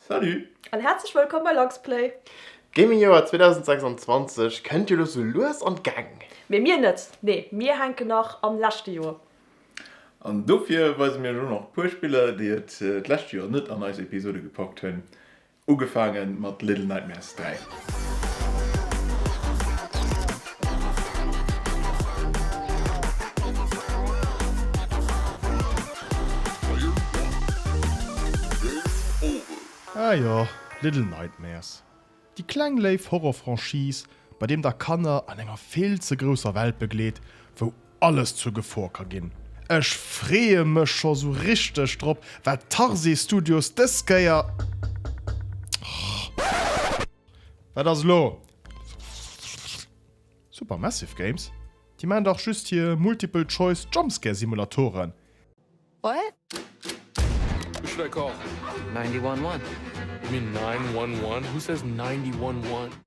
Salut! An häerzlech wëllkomm bei Luxplay! D'Gaming Joer 2026 kënnt jo lo sou lues an d'Gäng. Mee mir net, nee mir hänken nach am leschte Joer. An dofir weise mir iech och nach e puer Spiller déi et d'lescht Joer net an eis Episode gepackt hunn, ugefaange mat Little Nightmares. Dräi. Ah jo, Little Nightmares, déi kleng léif Horror-Franchise, bei deem der Kanner an enger vill ze grousser Welt begleet, wou alles zur Gefor ka ginn. Ech freeë mech scho sou richteg drop wat Tarsier Studios dës Kéier Wat ass elo? Supermassive Games? Déi maan dach just hier Multiple Choice Jumpscare Simulatoren.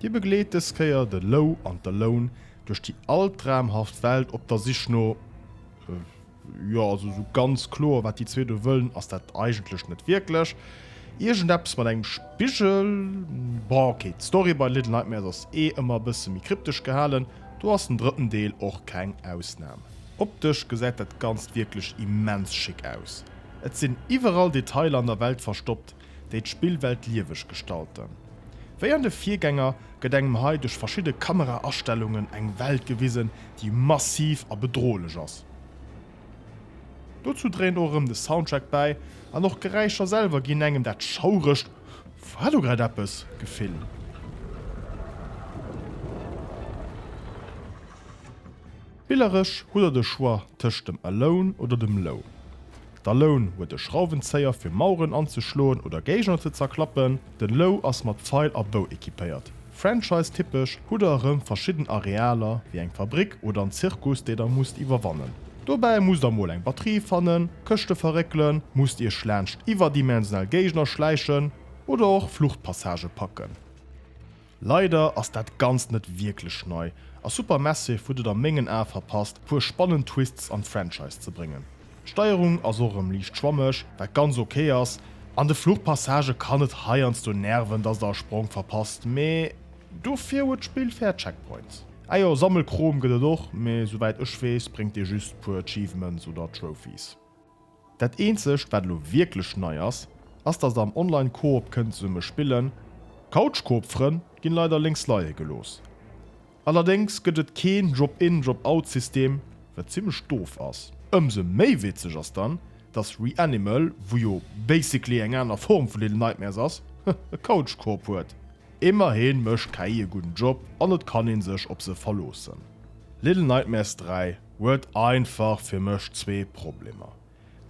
Dir begleet dës Kéier de Lou an d'Alone duerch déi altraumhaft Welt op der Sich no, jo, also esou ganz kloer wat déi zwee do wëllen ass dat eigentlech net wierklech. Iergendeppes mat engem Spigel, bon ok, d'Story bei Little Nightmares ass eh ëmmer e bësse méi kryptesch gehalen, do ass den drëtten Deel och keng Ausnam. Optesch gesäit dat Ganzt wierklech immens schick aus, et sinn iwwerall Detailer an der Welt verstoppt, déi d'Spillwelt lieweg gestalten. Wéi an de Virgänger gëtt engem hei duerch verschidde Kamera-Astellungen eng Welt gewisen, déi massiv a bedrohlech ass. Dozou dréint och erëm de Soundtrack bäi an och d'Geräischer selwer ginn engem dat schauregt War do grad eppes? Gefill. Spilleresch hutt der de Choix tëscht dem Alone oder dem Low. Der Loun huet e Schrauwenzéier fir Maueren anzeschloen oder Géigner ze zerklappen. Den Lou ass mat Feil a Bou equipéiert. Franchise-typesch hutt der erëm verschidden Arealer, wéi eng Fabrik oder en Zirkus, déi der musst iwwerwannen. Dobäi musst der mol eng Batterie fannen, Këschte verréckelen, musst iech laanscht iwwerdimensionell Géigner schläichen oder och Fluchtpassagë packen. Leider ass dat ganzt net wierklech nei a Super Massive huet et a mengen Ae verpasst puer spannend Twists an d'Franchise ze bréngen. D'Steierung ass och erëm liicht schwammeg, wat ganz ok ass, an de Fluchpassagë kann et heiansdo nerven dass der e Sprong verpasst, mee dofir huet d'Spill fair Checkpoints. Ah jo, Sammelkrom gëtt et och, mee souwäit ech weess bréngt dee just puer Achievements oder Trophies. Dat eenzegt wat elo wierklech nei ass, ass dass der am Online Coop kënnt zesumme spillen. Couch Coop Frënn ginn leider lénks leie gelooss. Allerdéngs gëtt et keen Drop In, Drop Out System, wat zimlech doof ass. Ëmsou méi witzeg ass dann, dass Reanimal, wou jo basically eng aner Form vu Little Nightmares ass, e Couch Coop huet. Immerhin mécht d'KI e gudden Job an et kann een sech op se verloossen. Little Nightmares 3 huet einfach fir mech zwee Problemer.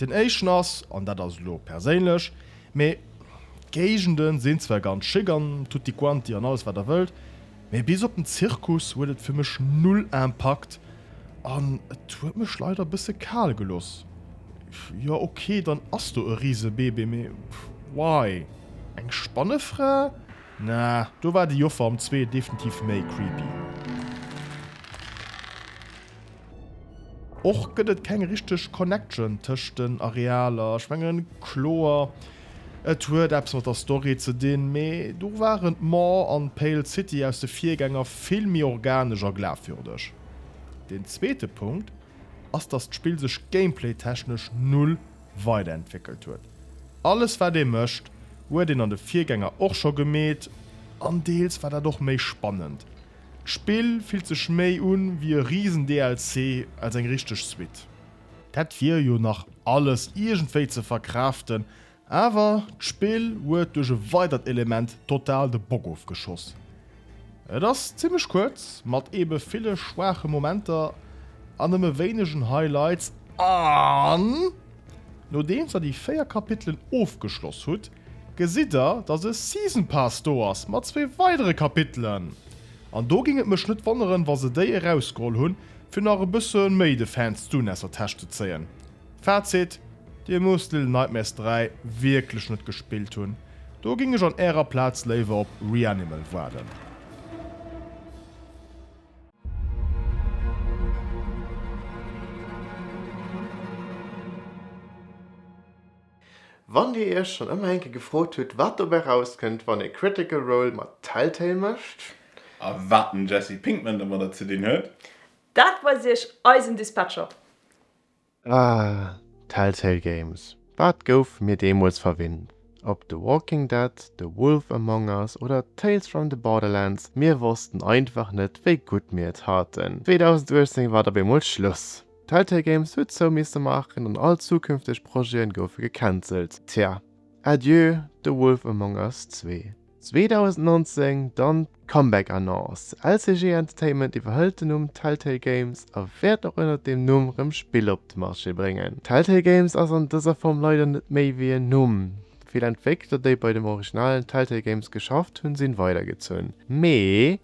Den éischten ass, an dat ass elo perséinlech, mee d'Géigende sinn zwar ganz schick an tutti quanti an alles wat der wëllt, mee bis op den Zirkus huet et fir mech null Impakt an et huet mech leider e bësse kal gelooss. Jo ok, dann ass do e Risebebe, mee why? Eng Spannefra? Na, do war de Joffer am Zwee definitiv méi creepy. Och gëtt et keng richteg Connection tëscht den Arealer. Ech mengen, kloer, et huet eppes mat der Story ze dinn, mee do waren d'Maw an d'Pale City aus de Virgänger vill méi organesch a glafwürdeg. Deen zweete Punkt ass, dass d'Spill sech gameplaytechnesch null weiderentwéckelt huet. Alles wat ee mécht, huet een an de Virgänger och scho gemeet an deels war dat och méi spannend. D'Spill fillt sech méi un wéi e riesen DLC als eng richteg Suite. Dat wier jo nach alles iergendwéi ze verkraaften, awer d'Spill huet duerch e weidert Element total de Bock ofgeschoss. Et ass zimmlech kuerz, mat ebe ville schwaache Momenter an nëmme wéinegen Highlights an nodeems der déi 4 Kapitelen ofgeschloss hutt, gesitt der dass e Season Pass do ass mat zwee weidere Kapitelen an do géing et mech net wonneren wa se déi erausgeholl hunn fir nach e bësse méi de Fans d'Unesser Täscht ze zéien. Fazit, Dir musst Little Nightmares 3 wierklech net gespillt hunn, do géing ech an Ärer Plaz léiwer op Reanimal waarden. Wann Dir Iech schonn ëmmer eng Kéier gefrot hutt, wat dobäi rauskënnt, wann ee Critical Role mat Telltale mécht, A wat den Jesse Pinkman domadder ze dinn huet? Dat weist Iech eisen Dispatcher. Ah, Telltale Games, wat gouf mir deemools verwinnt? Ob The Walking Dead, The Wolf Among Us oder Tales from the Borderlands, mir wossten einfach net, wéi gutt mir et haten. 2018 war et op eemol Schluss, Telltale Games huet zou misse maachen an all zukünfteg Projeten goufe gecancelt. Tja, Adieu The Wolf Among Us zwee. 2019 dann d'Comeback Annonce, LCG Entertainment iwwerhëlt den Numm Telltale Games a wäert och ënnert deem Numm rëm Spiller op de Marché bréngen. Telltale Games ass an dëser Form leider net méi wéi en Numm. Vill Entwéckler déi bei dem originalen Telltale Games geschafft hunn, sinn weidergezunn, mee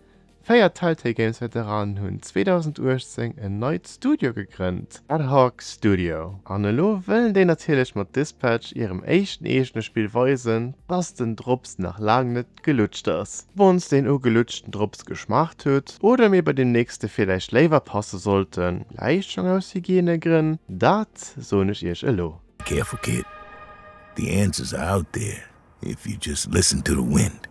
Véier Telltale Games Veteranen hunn 2018 en neit Studio gegrënnt, Ad Hoc Studio, an elo wëllen déi natierlech mat Dispatch, hirem éischten eegene Spill, weisen, dass den Drops nach laang net gelutscht ass. Wann's den ugelutschten Drops geschmaacht hutt, oder mir bei dem nächste villäicht léiwer passe sollten, vläicht schonn aus Hygienegrënn, dat soen ech iech elo. Careful kid, the answers are out there if you just listen to the wind.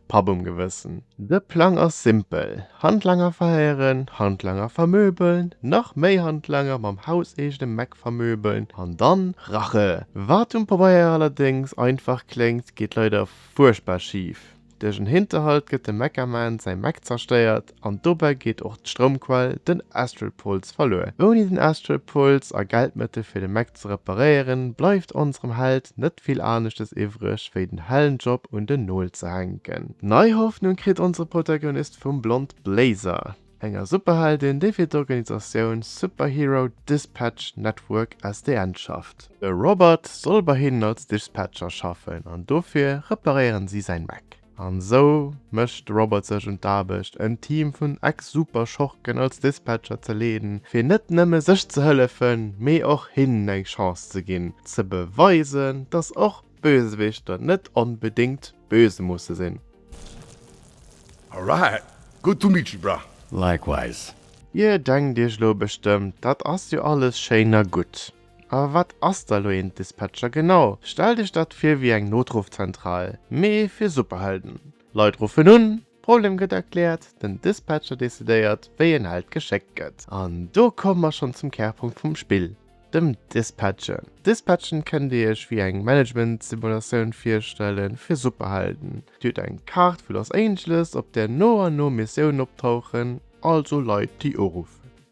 Papp um Gewëssen. De Plang ass simpel, Handlanger verhéieren, Handlanger vermöbeln, nach méi Handlanger mam hauseegene Meck vermöbeln an dann Rache! Wat um Pabeier allerdéngs einfach kléngt, geet leider fuerchtbar schif, Duerch en Hinterhalt gëtt dem Meckerman säi Meck zerstéiert an dobäi geet och d'Stroumquell, den Astral Pulse, verluer. Ouni den Astral Pulse a Geldmëttel fir de Mac ze reparéieren, bleift onserem Held net vill aneschtes iwwreg wéi den hellen Job un den Nol ze hänken. Nei Hoffnung kritt onsere Protagonist vum Blond Blazer, enger Superheldin, déi fir d'Organisatioun Superhero Dispatch Network, SDN, schafft. De Robert soll bei hinnen als Dispatcher schaffen an dofir reparéieren si säin Mac. An esou mécht de Robert sech un d'Aarbecht, en Team vun Ex-Superschurken als Dispatcher ze leeden, fir net nëmme sech ze hëllefen, mee och hinnen eng Chance ze ginn, ze beweisen, dass och Bösewichter net onbedéngt böse musse sinn. Alright, good to meet you, bruh. Likewise. Dir denkt iech elo bestëmmt, dat ass jo alles schéin a gutt, A wat ass da lo een Dispatcher genau? Stellt iech dat vir wéi eng Notrufzentral, mee fir Superhelden. Leit ruffen un, Problem gëtt erkläert, den Dispatcher decidéiert wéi een Held geschéckt gëtt. An do komme mer schonn zum Kärpunkt vum Spill, dem Dispatchen. Dispatchen kënnt dir iech wéi eng Management-Simulatioun virstelle fir Superhelden. Dir hutt eng Kaart vu Los Angeles, op där no an no Missiounen optauchen, also Leit déi uruffen.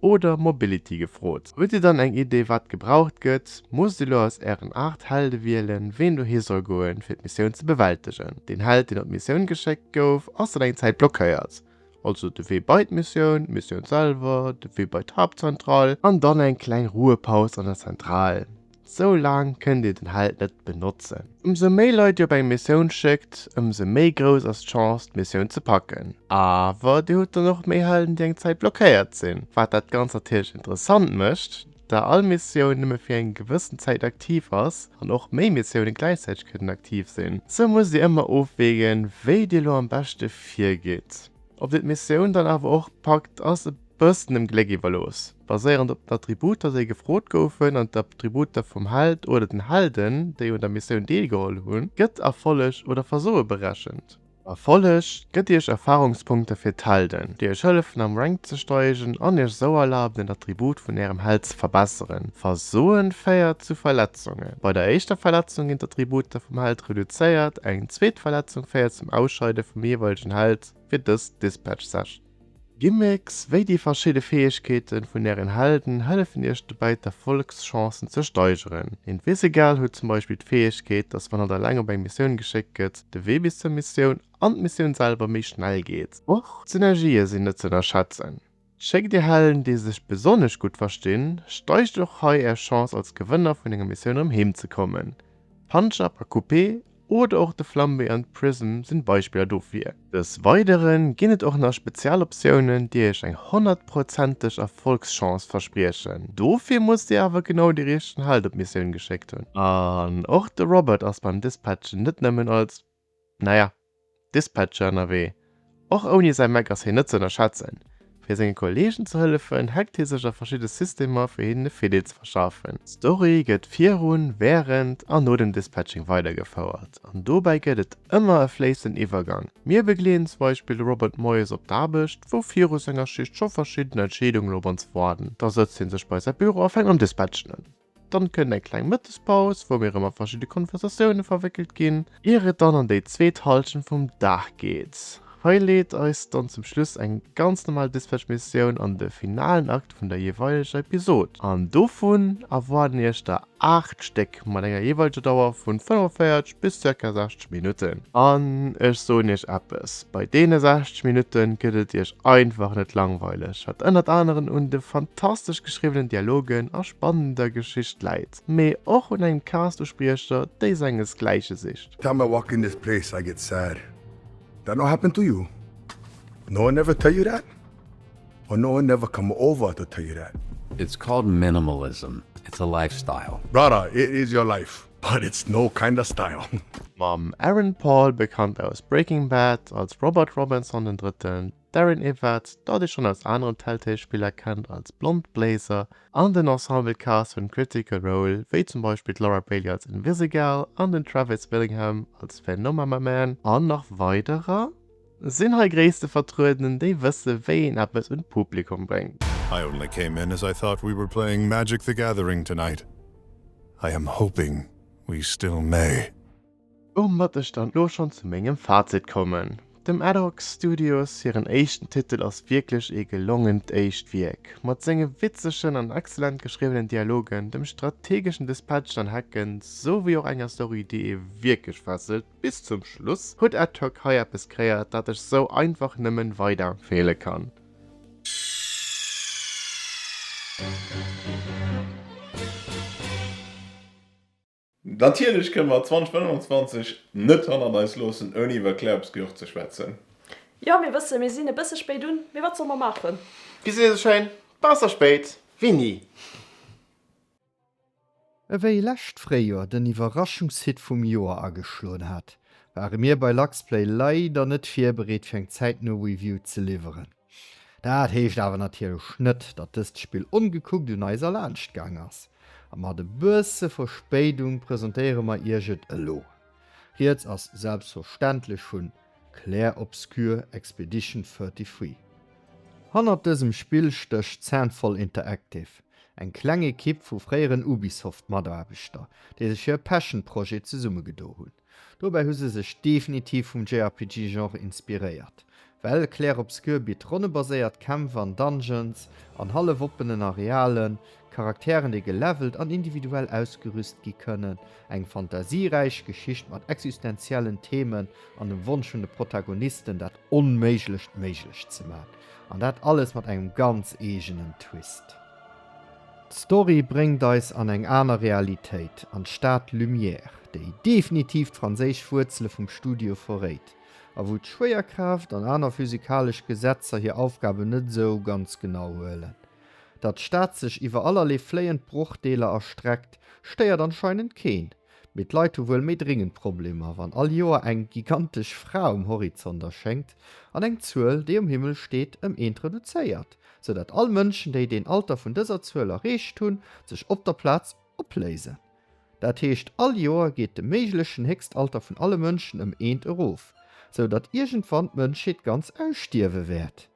oder Mobility gefrot. Hutt Dir dann eng Idee wat gebraucht gëtt? Musst Dir elo aus Ären 8 Helde wielen, ween dohi soll goen, fir d'Missioun ze bewältegen? Deen Held, deen op d'Missioun geschéckt gouf, ass dann eng Zäit blockéiert. Also de Wee bei d'Missioun, d'Missioun selwer, de Wee bei d'Haaptzentral an dann eng kleng Ruhepaus an der Zentral. Sou laang kënnt Dir den Held net benotzen. Ëmsou méi Leit Dir op eng Missioun schéckt, ëmsou méi grouss ass d'Chance d'Missioun ze packen. Awer Dir hutt dann och méi Helden déi eng Zäit blockéiert sinn, wat dat Ganzt natierlech interessant mécht, da all Missioun nëmme fir eng gewëssen Zäit aktiv ass an och méi Missioune gläichzäiteg kënnen aktiv sinn. Sou musst Dir ëmmer ofwägen wéi Dir elo am beschte virgitt. Ob Dir d'Missioun dann awer och packt ass e. Bëssen dem Gléck iwwerlooss. Baséierend op den Attributer, déi gefrot goufen, an d'Attributer vum Held oder den Helden, déi un der Missioun deelgeholl hunn, gëtt Erfolleg oder Versoe berechent. Erfolleg gëtt Iech Erfarungspunkte fir d'Helden, déi Iech hëllefen am Rank ze steigen an Iech esou erlaben den Attribut vun Ärem Held ze verbesseren. Versoe féiert zu Verletzunge. Bei der éischter Verletzung ginn d'Attributer vum Held reduzéiert, eng zweet Verletzung féiert zum Ausscheide vum jeeweilegen Held fir dës Dispatch-Session. Gimmicks wéi déi verschidde Fäegkeeten vun ären Helden hëllefen iech dobäi d'Erfollegschancen ze steigeren. Invisigal huet zum Beispill d'Fäegkeet, dass wann et eleng op eng Missioun geschéckt gëtt, de Wee bis zur Missioun an d'Missioun selwer méi schnell geet. Och d'Synergië sinn net ze ënnerschätzen, Schéckt dir Helden déi sech besonnesch gutt verstinn, steigt och hei är Chance als Gewënner vun enger Missioun erëm heem ze kommen. Punch-Up a Coupé oder och de Flambé an d'Prism sinn Beispiller dofir. Dës weideren ginn et och nach spezial Optiounen déi iech eng honnertprozenteg Erfolgschance verspriechen. Dofir musst dir awer genau de richten Held op d'Missioun geschéckt hunn. An och de Robert ass beim Dispatchen net nëmmen als, naja, Dispatcher ënnerwee. Och ouni säi Mac ass hien net ze ënnerschätzen. Fir senge Kolleegen ze hëllefen, hackt hie sech a verschidde Systemer, fir hinnen e Fiddeel ze verschafen. D'Story gëtt virun, wärend an no dem Dispatching weidergefouert, an dobäi gëtt et ëmmer e fléissenden Iwwergang. Mir begleeden zum Beispill de Robert moies op d'Aarbecht, wou viru senger Schicht scho verschidden Entscheedungen op ons waarden. Da sëtzt hie sech bei säi Büro a fänkt mam Dispatchen un. Dann kënnt eng kleng Mëttespaus, wou mir erëm a verschidde Konversatioune verwéckelt ginn, ier et dann an déi zweet Halschent vum Dag geet. Hei leet eis dann zum Schluss eng ganz normal Dispatch-Missioun an de finalen Akt vun der jeeweileger Episod. An dovun erwaarden iech der 8 Stéck mat enger jeeweileger Dauer vu 45 bis zirka 60 Minutten. An ech soen iech eppes, bei deene 60 Minutte gëtt et iech einfach net langweileg, wat ënnert aneren un de fantastesch geschriwwenen Dialogen a spannender Geschicht läit, mee och un engem Cast u Spriecher, déi senges gläiche sicht. Tell me what can this play say get sad that no happen to you? No one ever tell you that? Or no one ever come over to tell you that? It's called minimalism, it's a lifestyle. Brother, it is your life. But it's no kinda style. Mam Aaron Paul, bekannt aus Breaking Bad als Robert Robinson den Drëtten, Darren Yvette, dat ee schonn aus aneren Telltale-Spiller kennt als Blond Blazer, an den Ensemble-Cast vun Critical Role, wéi zum Beispill d'Laura Bailey als Invisigal an den Travis Willingham als Phenomamaman an nach weiderer, Sinn hei Gréisste vertrueden, déi wësse wéi een eppes un d'Publikum bréngt? I only came in as I thought we were playing Magic the Gathering tonight. I am hoping we still may. Um mat ech dann lo schon zu mengem Fazit kommen. Dem Adhoc Studios hiren éischten Titel ass wierklech ee gelongent éischt Wierk. Mat senge witzegen an excellent geschriwwenen Dialogen, dem strategeschen Dispatchen an Hacken, sou wéi och enger Story déi ee wierklech fesselt, Bis zum Schluss huet Adhoc hei eppes kreéiert dat ech sou einfach nëmmen weiderempfeele kann. Natierlech kënne mer 2025 net hannert eis loossen ouni iwwer Claire'sgehör ze schwätzen. Jo mir wëssen mir sinn e bësse spéit un, mee wat soll mer maachen. Bis iewesch schéin, besser spéit wéi ni! Ewéi lescht Fréijoer den Iwwerraschungshit vum Joer ageschloen hat, ware mir bei Luxplay leider net virbereet fir eng zäitno Review ze liwweren. Dat heescht awer natierlech net, datt dëst Spill ongekuckt un eis erlaanscht gaang ass, a mat e bësse Verspéidung presentéiere mer iech et elo. Rieds ass selbstverständlech vun. Clair Obscur Expedition 33. Hannert dësem Spill stécht Sandfall Interactive, eng kleng Ekipp vu fréieren Ubisoft-Mataarbechter, déi sech hir Passion-Projet zesummegedo hunn. Dobäi hu se sech definitiv vum JRPG-Genre inspiréiert, well Clair Obscur bitt ronnebaséiert Kämpf an Dungeons an hallef-oppenen Arealen, Charakteren, déi gelevelt an individuell ausgerüst gi kënnen, eng fantasieräich Geschicht mat existenziellen Themen an dem Wonsch vun de Protagonisten, dat Onméiglecht méiglech ze man, an dat alles mat engem ganz eegenen Twist. D'Story bréngt eis an eng aner Realitéit, an d'Stad Lumière, déi definitiv d'franséisch Wuerzele vum Studio verréit, a wou d'Schwéierkraaft an aner physikalesch Gesetzer hir Aufgaben net esou ganz genau huelen. Datt d'Stad sech iwwer allerlee fléiend Brochdeeler erstreckt, stéiert anscheinend keen. Mee d'Leit hu wuel méi dringend Problemer, wann all Joer eng gigantesch Fra um Horizont erschéngt an eng Zuel, déi um Himmel steet, ëm eent reduzéiert, sou datt all Mënschen, déi deen Alter vun dëser Zuel erreecht hunn, sech op der Plaz opléisen. Dat heescht, all Joer geet de méiglechen Héchstalter vun alle Mënschen ëm eent erof, sou datt iergendwann d'Mënschheet ganz ausstierwe wäert.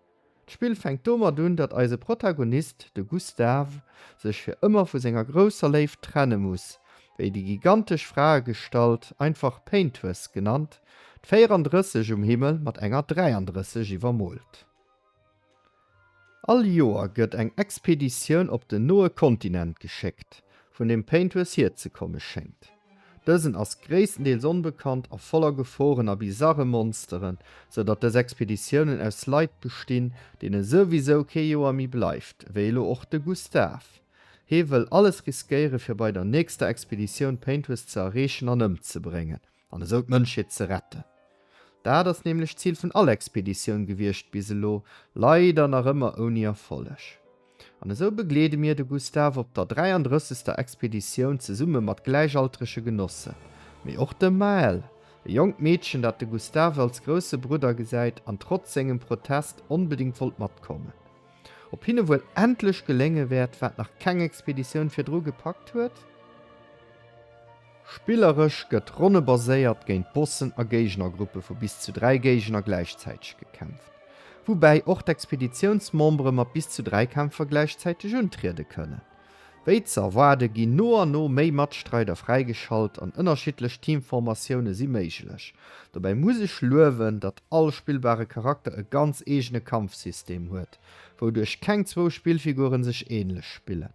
D'Spill fänkt domat un, datt eise Protagonist, de Gustave, sech fir ëmmer vu senger grousser Léift trenne muss, wéi déi gigantesch Fraegestalt, einfach Paintwess genannt, d'Véierandrësseg um Himmel mat enger Dräiandrësseg iwwermoolt. All Joer gëtt eng Expeditioun op den noe Kontinent geschéckt, vun deem Paintwess hierzekomme schéngt. Dësen ass gréisstendeels onbekannt a voller Geforen a bizarre Monsteren, sou datt dës Expeditiounen aus Leit bestinn, deene souwisou kee Joer méi bleift, wéi elo och de Gustave. Hee wëll alles riskéiere fir bei der nächster Expeditioun d'Paintures ze erreechen an ëmzebréngen, an esou d'Mënschheet ze retten. Dat ass nämlech d'Zil vun all Expeditioun gewiescht bis elo, leider nach ëmmer ouni Erfolleg. An esou begleede mir de Gustave op der 33. Expeditioun zesumme mat gläichaltrege Genossen, mee och dem Maëlle, e jonkt Meedchen, dat de Gustave als grousse Brudder gesäit an trotz sengem Protest onbedéngt wollt matkommen. Ob hinne wuel endlech gelénge wäert, wat nach keng Expeditioun virdru gepackt huet? Spilleresch gëtt ronnebaséiert géint Bossen a Géignergruppe vu bis zu 3 Géigner gläichzäiteg gekämpft, woubäi och d'Expeditiounsmembere mat bis zu 3 Kämpfer gläichzäiteg untriede kënnen. Wéi ze erwaarde ginn no an no méi Matstreider fräigeschalt an ënnerschiddlech Teamformatioune si méiglech. Dobäi muss ech luewen, datt all spillbare Charakter e ganz eegene Kampfsystem huet, wouduerch keng zwou Spillfigure sech änlech spillen.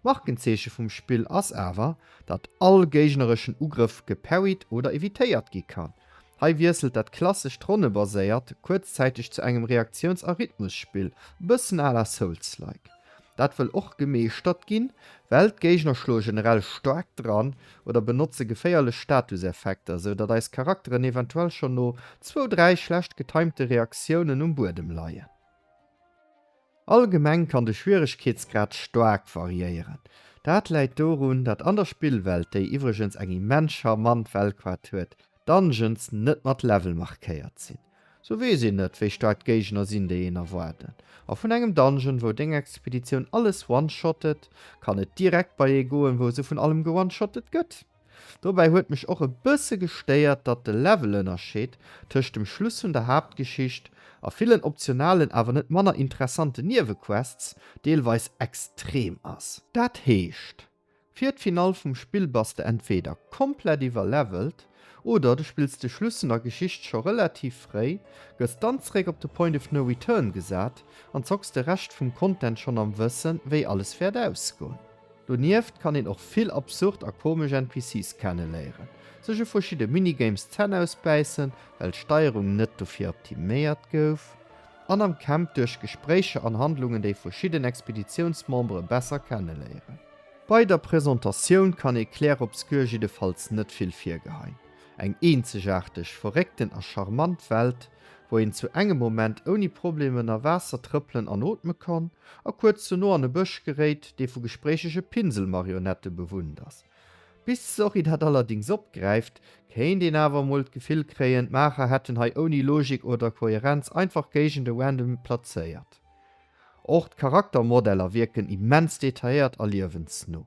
D'Markenzeeche vum Spill ass awer, datt all géignereschen Ugrëff geparried oder evitéiert gi kann. Hei wiesselt dat klassescht Ronnebaséiert kuerzzäiteg zu engem Reaktiouns a Rhythmusspill, e bëssen à la Souls-like. Dat wëll och gemeeschtert ginn, well d'Géigner schloe generell staark dran oder benotze geféierlech Statuseffekter, sou datt eis Charakteren eventuell schonn no zwou, dräi schlecht getimte Reaktiounen um Buedem leien. Allgemeng kann de Schwieregkeetsgrad staark variéieren. Dat läit dorun, dat an der Spillwelt, déi iwwregens eng immens charmant Weltkaart huet, d'Dungeons net mat Level markéiert sinn. Sou weess een net, wéi staark d'Géigner sinn, déi een erwaarden. A vun engem Dungeon, wou deng Expeditioun alles one-shottet, kann et direkt bei ee goen, wou se vun allem ge-one-shottet gëtt. Dobäi huet mech och e bësse gestéiert, datt de Levelënnerscheed tëscht dem Schluss vun der Haaptgeschicht a villen optionalen awer net manner interessanten Niewequests deelweis extrem ass. Dat heescht, fir d'Finall vum Spill bass de entweeder komplett iwwerlevelt oder du spills de Schluss vun der Geschicht scho relativ fréi, gëss dann zeréck op de Point of No Return gesat an zocks de Rescht vum Content schonn am Wëssen, wéi alles wäert ausgoen. Donieft kann een och vill absurd a komesch NPCs kenneléieren, sech u verschidde Minigames d'Zänn ausbäissen, well d'Steierung net dofir optiméiert gouf, an am Camp duerch Gespréicher an Handlungen déi verschidden Expeditiounsmembere besser kenneléieren. Bei der Presentatioun kann ee Clair Obscur jiddefalls net vill virgeheien, eng eenzegaarteg, verréckten a charmant Welt, wou een zu engem Moment ouni Problem ënner Waasser trëppelen an ootme kann a kuerz ze no an e Bësch geréit, dee vu gespréichege Pinselmarionette bewunnt ass. Bis d'Story dat allerdings opgräift, kéint een awer emol d'Gefill kréien, d'Maacher hätten hei ouni Logik oder Koherenz einfach Géigende random plazéiert. Och d'Charaktermodeller wierken immens detailléiert a liewensno.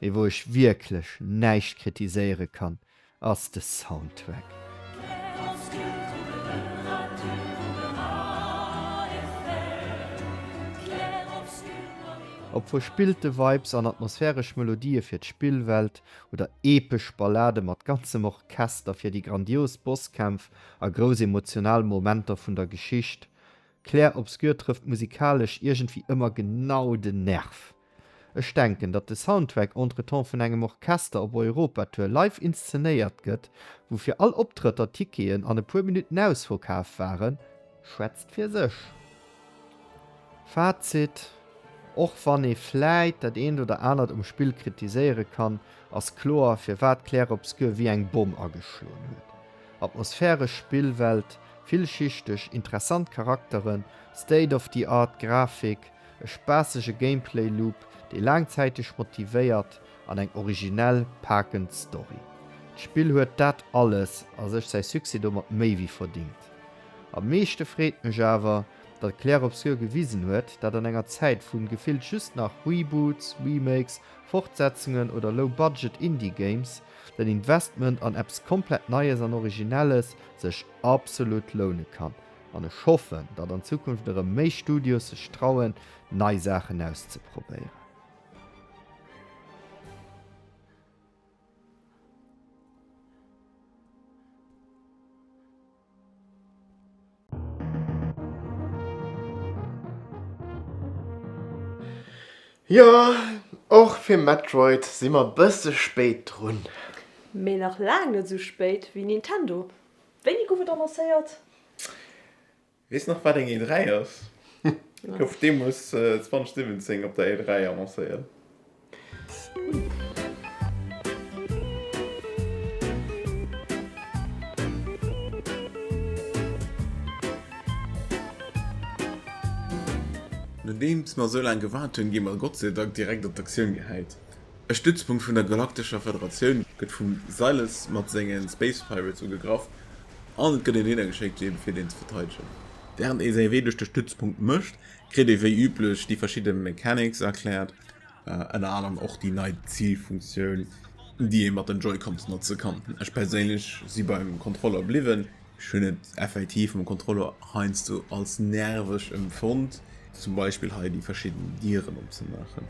mee wou ech wierklech näischt kritiséiere kann, ass de Soundtrack. Ob verspillte Vibes an atmosphäresch Melodië fir d'Spillwelt oder epesch Ballade mat ganzem Orchester fir déi grandios Bosskämpf a grouss emotional Momenter vun der Geschicht, Clair Obscur trëfft musikalesch iergendwéi ëmmer genau den Nerv. Ech denken, datt de Soundtrack entretemps vun engem Orchester op Europa-Tour live inszenéiert gëtt, wou fir all Optrëtter Ticketen an e puer Minutten ausverkaaft waren, schwätzt fir sech. Fazit, Och wann ee vläit dat eent oder anert um Spill kritiséiere kann, ass kloer, firwat Clair Obscur wéi eng Bomm ageschloen huet. Atmosphäresch Spillwelt, villschichteg, interessant Charakteren, state-of-the-art Grafik, E spaassege Gameplay Loop, dee laangzäiteg motivéiert an eng originell, paakend Story. D'Spill huet dat alles a sech, säi Succès domat méi wéi verdingt. Am meeschte freet mech awer, datt Clair Obscur gewisen huet, dat an enger Zäit vu gefillt just nach Reboots, Remakes, Fortsetzungen oder Low Budget Indie Games, den Investment an eppes komplett Neies an Originelles sech absolut loune kann. An ech hoffen, datt an Zukunft erëm méi Studios sech trauen, nei Saachen auszeprobéieren. Jo, och fir Metroid si mer bësse spéit drun. Mee nach laang net esou spéit wéi Nintendo. Wéini gouf et annoncéiert? Weess nach wat eng E3 ass? Gouf deemoos 2017 op der E3 annoncéiert. Nodeems mer esou laang gewaart hunn, gi mer Gottseidank direkt an d'Aktioun gehäit. E Stützpunkt vun der Galaktescher Federatioun gëtt vum Silas mat senge Space Pirates ugegraff an et gëtt een hinnergeschéckt dee fir deen ze verteidegen. Wärend ee säi Wee duerch de Stützpunkt mécht, kritt ee wéi üblech déi verschidde Mechanics erkläert, ënner anerem och déi nei Zilfunktioun déi ee mat den Joy-Cons notze kann. Ech perséinlech si beim Controller bliwwen. Ech hunn et effektiv mam Controller heiansdo als nerveg emfonnt. Zum Beispill hei déi verschidden Dieren opzemaachen.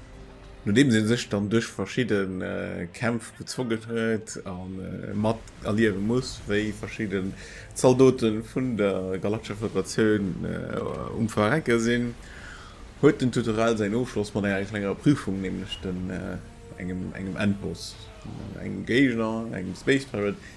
Nodeems ee sech dann duerch verschidde Kämpf gezwongen huet a mat erliewe muss, wéi verschidde Zaldote vun der Galaktischer Federatioun um Verrecke sinn, huet den Tutorial säin Ofschloss mat enger klenger Prüfung, nämlech engem Endboss, engem Géigner, engem Space Pirate,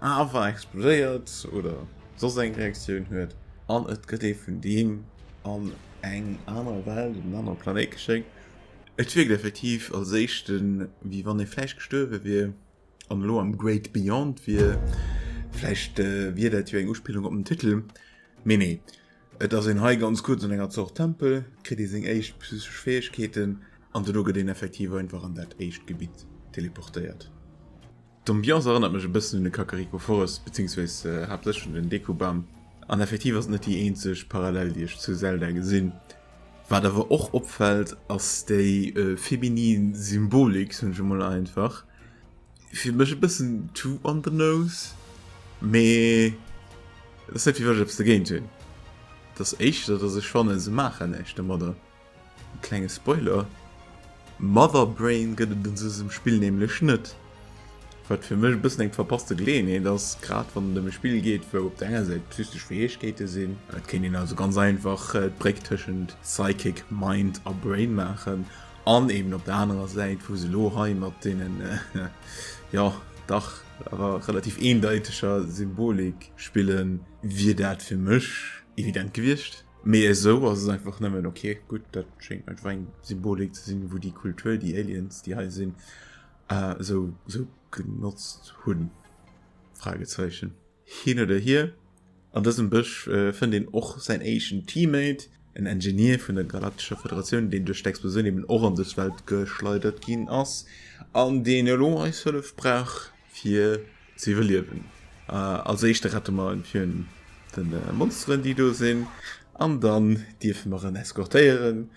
awer explodéiert oder soss eng Reaktioun huet an et gëtt ee vun deem an eng aner Welt, op en anere Planéit geschéckt. Et wierkt effektiv als éischte wéi wann ee vläicht gestuerwe wier an elo am Great Beyond wier. Vläicht wier dat jo eng Uspillung op den Titel, mee nee. Et ass een hei ganz kuerz an enger Zort Tempel, et kritt ee seng éischt psychesch Fäegkeeten an duerno gëtt een effektiv einfach an dat éischt Gebitt teleportéiert. D'Ambiance erënnert mech e bëssen un de Kakariko Forest, bezéiungsweis haaptsächlech un den Deku Bam. An effektiv ass et net déi eenzeg Parallel déi ech zu Zelda gesinn. Wat awer och opfält ass déi feminin Symbolik, soen ech emol einfach, fir mech e bëssen to on the nose mee firwëch ze géint hunn das echt dat se schwannen se machen echt de Mader klenge Spoiler Mother Brain gëtt den se dem Spill nämlichlech net wat fir mech bëssen eng verpasste gleen ee das grad wann dem Spill geet wou op denger seit physisch Fäegkeete sinn dat kenn een also ganz einfach d'Bréck tëschent psychic mind a Brain maachen An eben op der anerer Säit, wou se elo hei mat deenen, jo, dach awer relativ eendeiteger Symbolik spillen, wier dat fir mech evident gewiescht. Mee esou ass et einfach nëmmen, ok, gutt, dat schéngt einfach eng Symbolik ze sinn, wou déi Kultur, déi Aliens, déi hei sinn, esou genotzt hunn? Fragezeichen. Hin oder hier, an dësem Bësch fënnt een och säin éischten Teammate, en Engineer vun der Galaktescher Federatioun, deen duerch d'Explosioun eben och an dës Welt geschleidert ginn ass an deen elo eis Hëllef brauch fir ze iwwerliewen. Als éischte rette mer en virun de Monsteren déi do sinn an dann dierfe mer en eskortéieren.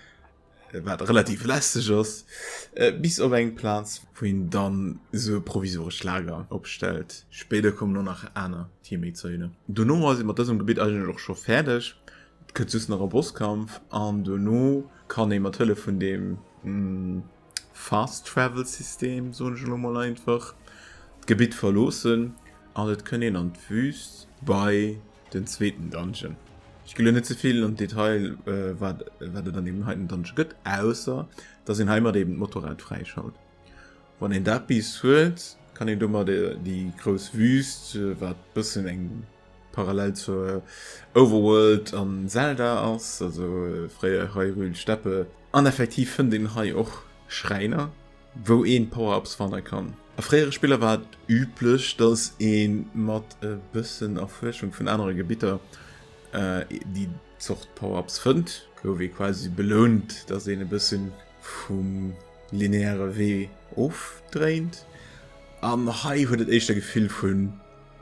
Äh, wat relativ lästeg ass äh, bis op eng Platz wo hin dann so provisoresch Lager opstellt. Speder kommen nur nach aner Teamméizeunen. Du no as mat dësem Gebiet eigenlech och scho fäerdeg. Et gëtt just nach e Bosskampf an du no kann ee mat Hëlle vun dem mm, Fast Travel System so lo mal einfach d'Gebiet verloossen an et kënn een an d'Wüst bei den zweeten Dungeon. Ich gelo net zevill an Detail äh, wat wat et an dem heiten Dungeon gëtt ausser dats en heimat eben Motorrad fräischaut. Wann en dat bis huet, kann en dummer de déi grouss Wüst äh, wat bëssen eng parallel zur äh, Overworld an Zelda ass, also äh, fréier Hyrule Steppe. An effektiv fënnt een hei och Schräiner. wou een Power-Ups fannen kann. A fréiere Spiller war et üblech, dass een mat e bëssen Erfuerschung vun anere Gebitter déi Zort Power-Ups fënnt. Gouf ee quasi belount, dass een e bëssen vum lineäre Wee ofdréint. An hei huet et éischt e Gefill vun,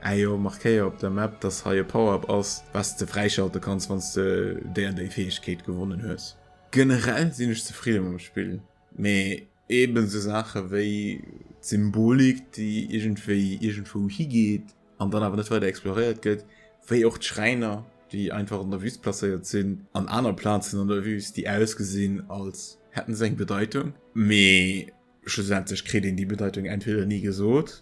Ä jo, markéier op der Map, dass hei e Power-Up ass, wat s de fräischalte kanns, wann s de déi an déi Fäegkeet gewonnen hues. Generell sinn ech zefridde mam Spill. Mee eben esou Saache wéi d'Symbolik, déi iergendwéi iergendwou higeet an dann awer net weider exploréiert gëtt, wéi och d'Schräiner, déi einfach an der Wüst placéiert sinn, an aner Plazen an der Wüst, déi ausgesinn, als hätten se eng Bedeitung, mee schlussendlech kritt een déi Bedeitung entweder ni gesot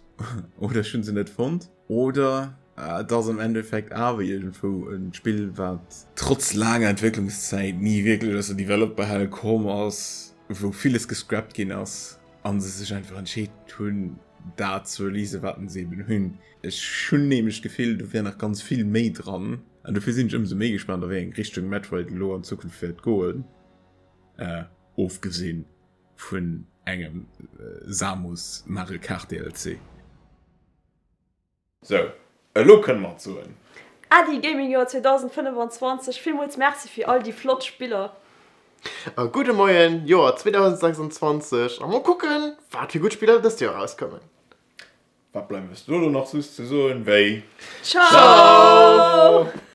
oder ech hu se net fonnt. Oder et ass am Endeffekt awer iergendwou e Spill, wat trotz laanger Entwécklungszäit ni wierklech aus der Developerhell komm ass, wou villes gescrapt ginn ass a se sech einfach entscheet hunn, dat ze releasen, wat se eben hunn. Ech hunn nämlech d'Gefill, do wär nach ganz vill méi dran. An dofir sinn ech ëmsou méi gespaant, a wéi eng Richtung Metroid elo an Zukunft wäert goen, ofgesinn vun engem Samus Mario Kart DLC. Sou, elo kënne mer et soen. Ady, Gaming Joer 2025, villmools Merci fir all déi flott Spiller. A, Gudde Moien, Joer 2026, a mol kucken, wat fir gutt Spiller dëst Joer erauskommen. Wat bleift eis do elo nach soss ze soen wéi. Ciao!